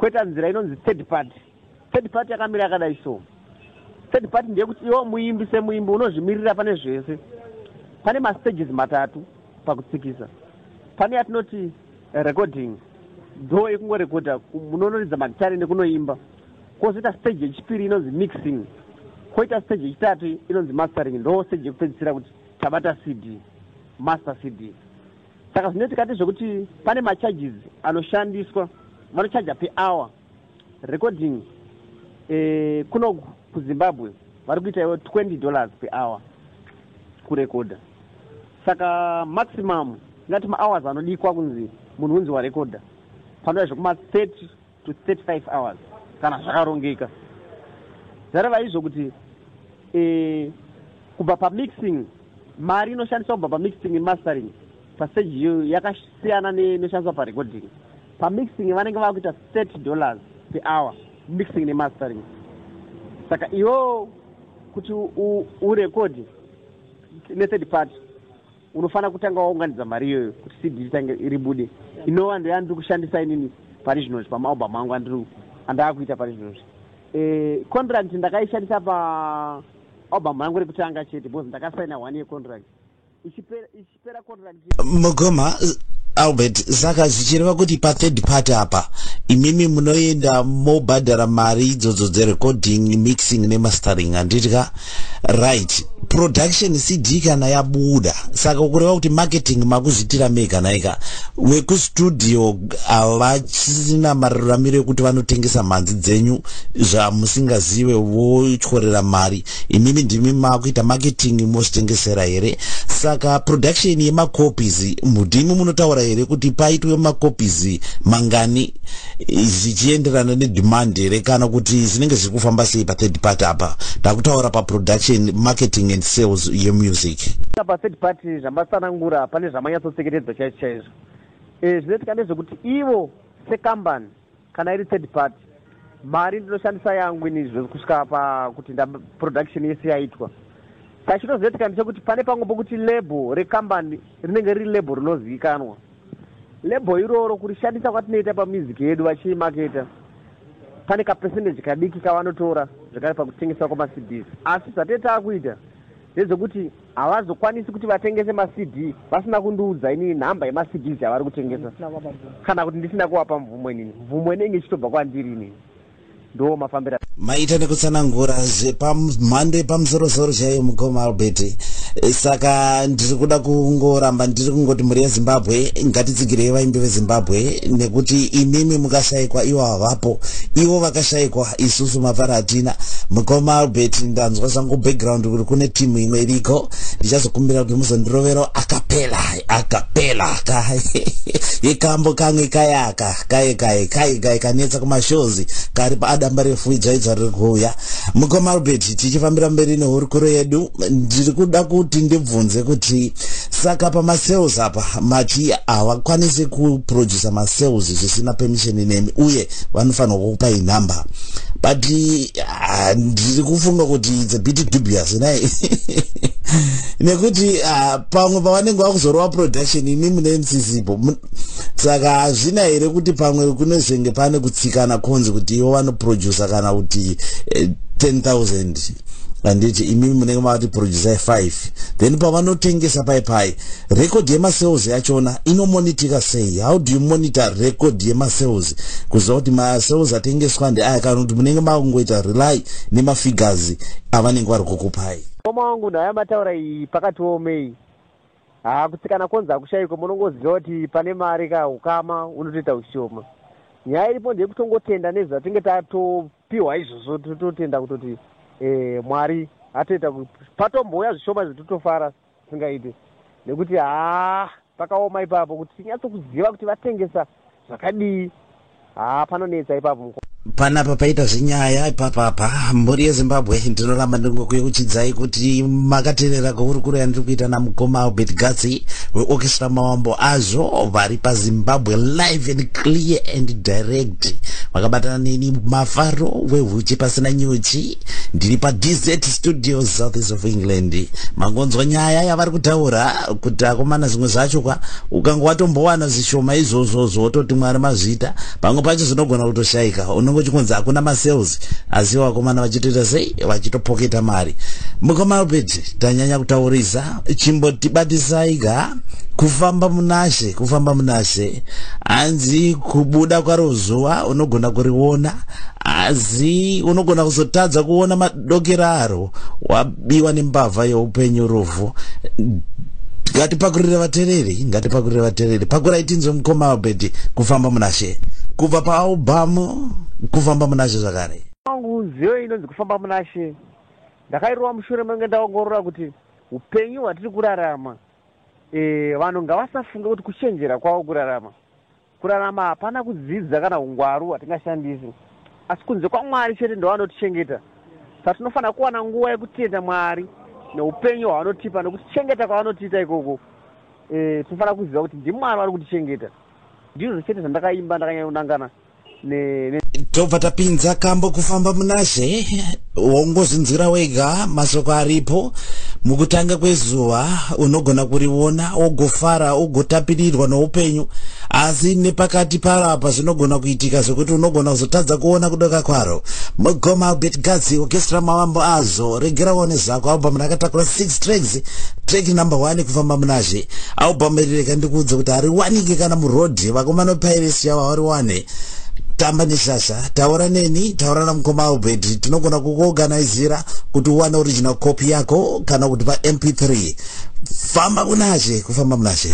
Koita nzira inonzi third party. Third party yakamira yakadai so. Third party ndeyekuti iwo muimbi semuimbi unozvimirira pane zvese. Pane mastages matatu pakutsikisa. Pane yatinoti recording dho yekungorekodha munonoridza magitare nekunoimba kwozoita stage yechipiri inonzi mixing kwoita stage yechitatu inonzi mastering ndo stage yekupedzisira kuti tabata cd master cd Saka zvino tikati zvekuti pane macharges anoshandiswa vanochaja per hour recording eh, kuno kuzimbabwe vari kuita ivo 20 dollars per hour kurekodha saka maximum ingati mahours anodikwa kunzi munhu unzi warekodha panoda zvekuma 30 to 35 hours kana zvakarongeka zvareva izvo kuti eh, kubva pamixing mari inoshandiswa kubva pamixing nemastering paseji iyoyo yakasiyana nenoshandiswa parecording pamixing vanenge vava kuita 30 dollars per hour mixing nemastering saka iwo kuti urekodi nethird party Unofanira kutanga waunganidza mari iyoyo kuti CD ritange ribude. Inova ndoya ndiri kushandisa inini pari zvino zvi pamaAlbum angu andiri andaakuita pari zvino zvi. Eh contract ndakaishandisa pa album yangu rekutanga chete because ndakasaina one year contract. Ichipera ichipera contract. Mugoma Albert saka zvichireva kuti pa third party apa imimi munoenda mobhadhara mari idzodzo dzerecording mixing nemastering handiti ka right production cd kana yabuda saka ukureva kuti marketing makuzviitira mega naika wekustudio havachina maruramiro ekuti vanotengesa mhanzi dzenyu zvamusingazive votyorera mari imimi ndimi makuita marketing mozvitengesera here saka production yemacopies mudimi munotaura here kuti paitwe macopies mangani zvichienderana nedemand here kana kuti zvinenge zviri kufamba sei pathird part apa takutaura paproduction marketing and sales yemusic pathird part zvamatsanangura pane zvamanyatsoseketedzwa chaizvo chaizvo e, zvinoitika ndezvekuti ivo sekambani kana iri third part mari ndinoshandisa yangu ini zvekusvika pakuti ndaproduction yese yaitwa saka chinozoitika ndechekuti pane pamwe pokuti label rekambani rinenge riri label rinozivikanwa Label iroro kurishandisa kwatinoita pamusic yedu vachiimaketa pane kapercentage kadiki kavanotora zvekare pakutengeswa kwamaCDs asi zvatinenge taakuita ndezvekuti havazokwanisi kuti vatengese maCD vasina kundiudza inini nhamba yemaCDs yavari kutengesa kana kuti ndisina kuvapa mvumo inini. Mvumo inenge ichitobva kwandiri inini. ndiwo mafambira maita nekutsanangura zvepamhando yepamusorosoro chaiyo mukoma albert saka ndiri kuda kungoramba ndiri kungoti mhuri yezimbabwe ngatitsigirei vaimbi vezimbabwe nekuti imimi mukashaikwa ivo havapo ivo vakashaikwa isusu mafara hatina mukoma albert ndanzwa zvangu background kuri kune timu imwe iriko ndichazokumbira kuti muzondirovero akapela akapela ka yekambo kamwe kayaka kaye kaye kaye kaye kanetsa kumashozi kari paadamba refu idzvaidzva riri kuuya mukoma albert tichifambira mberi nehurukuro yedu ndiri kuda kuti ndibvunze kuti saka pamasales apa mati havakwanisi kuproducer masales zvisina permission nemi uye vanofanirwa kukupa inhamba but ah, ndiri kufunga kuti it's a bit dubious nai nekuti ah, pamwe pavanenge vakuzorova production imi mune msisipo saka hazvina here kuti pamwe kunezenge pane kutsikana konzi kuti ivo vanoproducer kana kuti eh, 10000 handiti imimi munenge mavati producer 5 then pavanotengesa pai pai record yemasales yachona inomonitika sei how do you monitor record yemasales kuziva kuti masales atengeswa ndeaya kana kuti munenge makungoita rely nemafigures avanenge vari kukupai koma wangu ndaya mataura iyi pakatiomei Haa kutsikana konzi hakushaikwe munongoziva kuti pane mari ka ukama unotoita ushoma. Nyaya iripo ndeyekutongotenda nezvatinge tatopiwa izvozvo tototenda kutoti eh, Mwari atoita kuti patombouya zvishoma izvo totofara zvisingaite nekuti haa pakaoma ipapo kuti tinyatsokuziva kuti vatengesa Zvakadii? Haa panonetsa ipapo mukoma. Panapa paita zvinyaya ipapa apa mbori yezimbabwe ndinoramba ndingokuyeuchidzai kuti makaterera kwehurukuro yandiri kuita namukoma albert gatsi weorchestra mawambo azvo vari pazimbabwe live and clear and direct vakabatana neni mafaro wehuchi pasina nyuchi ndiri padz studio southeast of england mangonzwa nyaya yavari kutaura kuti akomana zvimwe zvacho kwa ukanga watombowana zvishoma izvozvozvo wototi mwari mazvita pamwe pacho zvinogona kutoshaika unenge uchikunzi hakuna masales asi vakomana vachitoita sei vachitopoketa mari mukoma albert tanyanya kutaurisa chimbotibatisai ga kufamba munashe kufamba munashe hanzi kubuda kwaro zuva unogona kuriona asi unogona kuzotadza kuona dogeraro wabiwa nembavha yeupenyu rufu ngatipakurire vatereri ngatipakurire vatereri pakurai tinzwe mukoma albert kufamba munashe kubva paalbamu kufamba munashe zvakare wangu nziyo inonzi kufamba munashe ndakairova mushure menge ndaongorora kuti upenyu hwatiri kurarama e, vanhu ngavasafunge kuti kuchenjera kwavo kurarama Kurarama hapana kudzidza kana hungwaru hwatingashandisi asi kunze kwaMwari chete ndovanotichengeta. Saka tinofanira kuwana nguva yekutenda Mwari neupenyu hwavanotipa nekutichengeta kwavanotiita ikoko. Eeh tinofanira kuziva kuti ndiMwari vari kutichengeta. Ndizvo chete zvandakaimba ndakanyanya kunangana tobva tapinza kambo kufamba munazve wongozvinzwira wega masoko aripo mukutanga kwezuva unogona kuriona wogofara ugotapirirwa noupenyu asi nepakati paro apa zvinogona kuitika zvekuti unogona kuzotadza kuona kudoka kwaro mugoma albert gazi okestra mavambo azvo regera one zvako album rakatakura 6 tracks track number 1 kufamba munazve album iri rega ndikuudze kuti hariwanike kana muroad vakomana pirates yavo hawariwane tamba neshasha taura neni taura namukoma albert tinogona kukuorganizira kuti uwane original copy yako kana kuti pamp3 famba kunashe kufamba munashe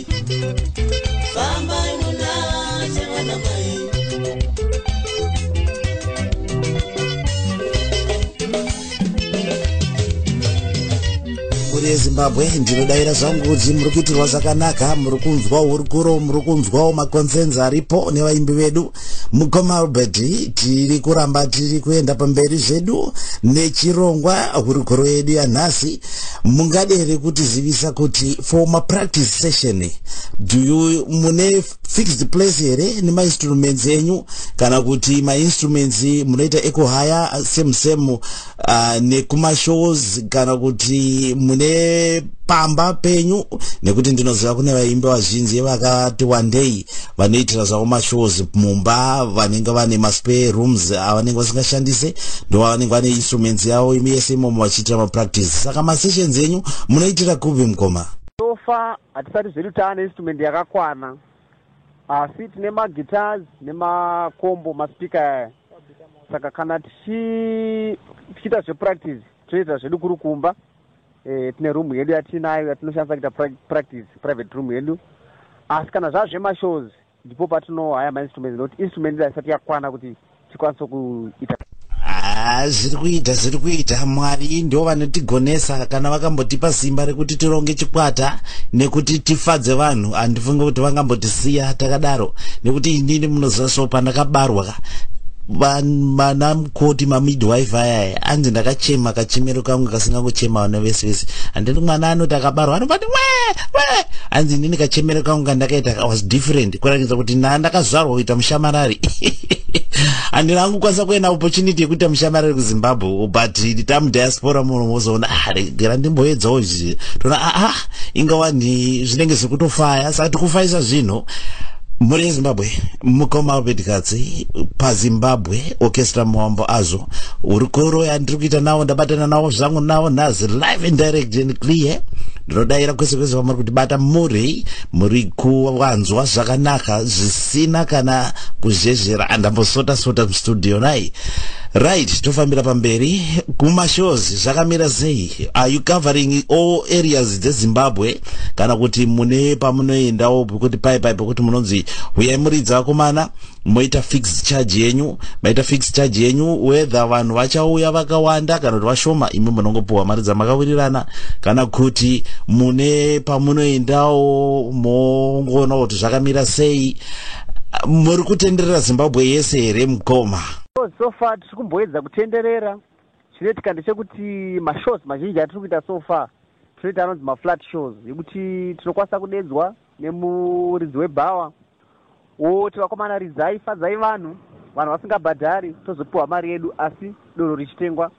rezimbabwe ndinodaira zvangu kuti muri kuitirwa zvakanaka muri kunzwa hurukuro muri kunzwawo maconcerns aripo nevaimbi vedu mukoma albert tiri kuramba tiri kuenda pamberi zvedu nechirongwa hurukuro yedu yanhasi mungade here kutizivisa kuti for mapractice session do you mune fixed place here nemainstruments enyu kana kuti mainstruments munoita ekuhaya same same uh, nekumashows kana kuti mune pamba penyu nekuti ndinoziva kune vaimbi vazhinji vakati wandei vanoitira zvavo mashows mumba vanenge vane maspare rooms avanenge vasingashandise ndo vanenge vane instruments yavo imi yese imomo vachiitira mapractice saka masessions enyu munoitira kupi mukoma sofa hatisati zvedu taane instrument yakakwana asi tine maguitars nemakombo maspika aya saka kana tichiita zvepractice toita zvedu kuri kumba eh, tine room yedu yatinayo yatinoshandisa kuita practice private room yedu asi kana zvaa zvemashows ndipo patinohaya mainstruments nokuti instrument ida isati yakwana kuti tikwanise kuita ah, zviri kuita zviri kuita mwari ndo vanotigonesa kana vakambotipa simba rekuti tironge chikwata nekuti tifadze vanhu handifunge kuti vangambotisiya takadaro nekuti inini munoziva so pandakabarwa vana mukoti mamidwife ayaya anzi ndakachema kachemero kangu kasingangochema vana vese vese handiti mwana anoti akabarwa anobati we we anzi inini kachemero kangu kandakaita was different kuratidza kuti na ndakazvarwa kuita mushamarari handina hangu kwanisa kuenda opportunity yekuita mushamarari kuzimbabwe but tamudiaspora muno mozoona ah, regera ndimboedzawo izvi toona aa ah, ah, ingawani zvinenge zvekutofaya saka tikufaisa zvinhu muri zimbabwe mukoma wabedikadzi pazimbabwe orchestra muwambo azvo hurukuro yandiri kuita nawo ndabatana nawo zvangu nawo nhazi live and direct and clear ndinodaira kwese kwese vamuri kuti bata muri muri kuwanzwa zvakanaka zvisina kana kuzhezhera andambosota sota mustudio nai right tofambira pamberi kumashows zvakamira sei are you covering all areas dzezimbabwe kana kuti mune pamunoendawo pekuti pai pai pekuti munonzi huyai muridzi vakomana moita fixed charge yenyu maita fixed charge yenyu whether vanhu vachauya vakawanda kana kuti vashoma imi munongopiwa mari dzamakawirirana kana kuti mune pamunoendawo mongoona kuti zvakamira sei muri kutenderera zimbabwe yese here mukoma so far tiri kumboedza kutenderera Chinoitika ndechekuti mashows mazhinji atiri kuita so far tinoita anonzi maflat shows yekuti tinokwanisa kudedzwa nemuridzi webhawa woti vakomana ridzai fadzai vanhu vanhu vasingabhadhari tozopiwa mari yedu asi doro richitengwa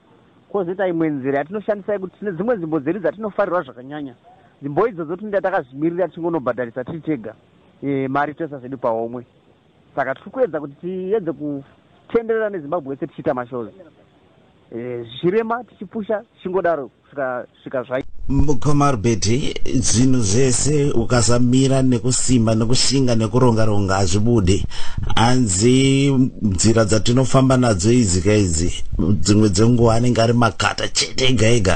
kwozoita imwe nzira yatinoshandisa yekuti tine dzimwe nzvimbo dzedu dzatinofarirwa zvakanyanya nzvimbo idzodzo tinoita takazvimirira tichingonobhadharisa tiri tega e, mari toisa zvedu pahomwe Saka tiri kuedza kuti tiedze kutenderera neZimbabwe yese tichiita mashows eh, zvichirema tichipusha tichingodaro kusvika svika zvai mukoma rubeti zvinhu zvese ukasamira nekusimba nekushinga nekuronga ronga hazvibude hanzi nzira dzatinofamba nadzo idzi ka idzi dzimwe dzenguva anenge ari makata chete ega ega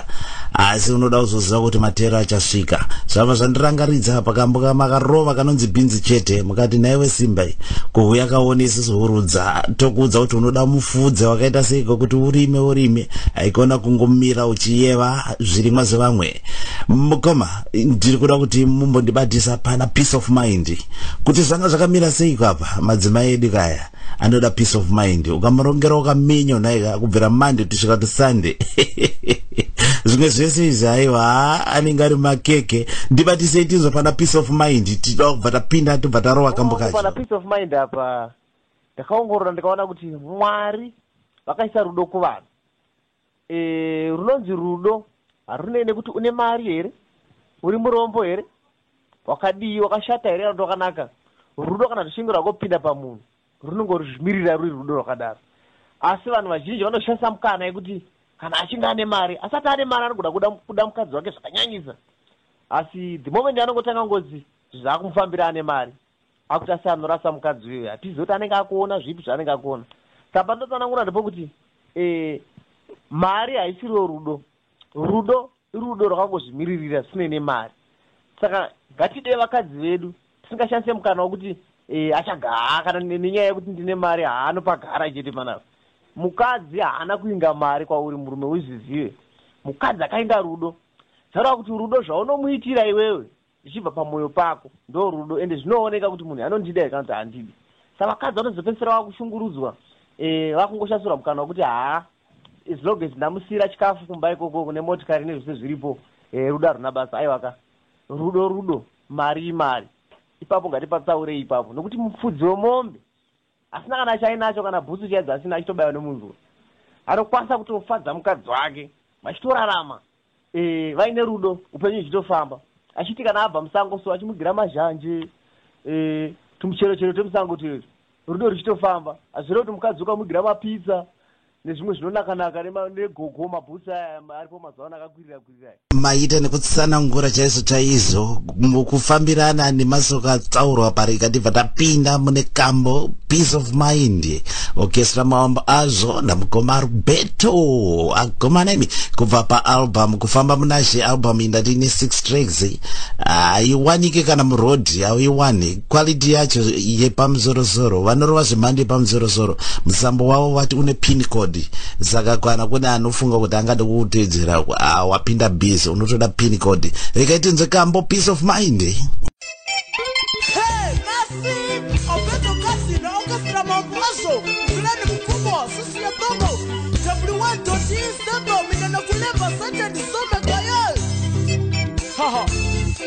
asi unoda kuzoziva kuti matero achasvika zvabva zvandirangaridza pakambo kamakarova kanonzi bhinzi chete mukati nhaiwe simba iyi kuhuya kaone isusu hurudza tokuudza kuti unoda mufudze wakaita seiko kuti urime urime haikona kungomira uchiyeva zvirimwa zvevamwe mukoma ndiri kuda kuti mumbondibatisa pana peace of mind kuti zvanga zvakamira seiko apa madzimai edu kaya anoda peace of mind ukamurongera ukaminyo nhaika kubvira monday tusvika tusunday zvimwe zvese izvi aiwa haa anenge ari makeke ndibatisei tinzwa pana peace of mind tida kubva tapinda tobva tarova oh, kambo kachopana peace of mind apa ndakaongorora ndikaona kuti mwari vakaisa rudo kuvanhu E, runonzi rudo harunei nekuti une mari here, uri murombo here, wakadii, wakashata here kana kuti wakanaka. Rudo kana ruchinge rwakopinda pamunhu runongozvimirira ruri rudo rwakadaro. Asi vanhu vazhinji vanoshandisa mukana yekuti kana achinge ane mari, asati ane mari anogona kuda, kuda mukadzi wake zvakanyanyisa. Asi the moment anongotanga ngozi zvakumufambira ane mari. Akuti asi anorasa mukadzi uyoyo hatizive kuti anenge akuona zvipi zvaanenge akuona saka pandotsanangura ndepokuti eh, mari haisiriwo rudo rudo irudo rwakangozvimiririra zvisinei nemari saka ngatide vakadzi vedu tisingashandise mukana wekuti eh, achagaa kana nenyaya yekuti ndine mari haanopagara chete panapa mukadzi haana kuinga mari kwauri murume uzvizive mukadzi akainga rudo zvareva kuti rudo zvaunomuitira iwewe zvichibva pamoyo pako ndorudo ende zvinooneka kuti munhu anondida here kana kuti handidi sa vakadzi vanozopedzisira vakushungurudzwa e, vakungoshasura mukana wekuti haa as long as ndamusiira chikafu kumba ikoko kune motikari nezvese zviripo e, rudo haruna basa aiwaka rudo rudo mari imari ipapo ngatipatsaurei ipapo nokuti mupfudzi wemombe Asina kana chaainacho kana bhutsu chaidzo asina achitobaiwa nemunzwa. Anokwanisa kutofadza mukadzi wake vachitorarama eh, vaine rudo upenyu huchitofamba. Achiti kana abva musango so achimugira mazhanje eh, tumuchero chero twemusango tuyotu rudo ruchitofamba. Hazvirevi kuti mukadzi ukamugira mapizza nezvimwe zvinonaka naka negogo mabhutsu aya aripo mazuva ano akakwirira kwirira aya maita nekutsanangura chaizvo chaizvo mukufambirana nemasoko atsaurwa pari ikatibva tapinda mune kambo peace of mind okestra mawambo azvo namukoma rubeto akomana imi kubva paalbum kufamba munashe album indati ine six tracks haiwanike kana muroad hauiwani quality yacho yepamusorosoro vanorova zvemhando yepamusorosoro musambo wavo vati une pin code saka kana kune anofunga kuti angada kutedzera ah, wapinda busy unotoda pin code rekaiti nze kambo peace of mind eh?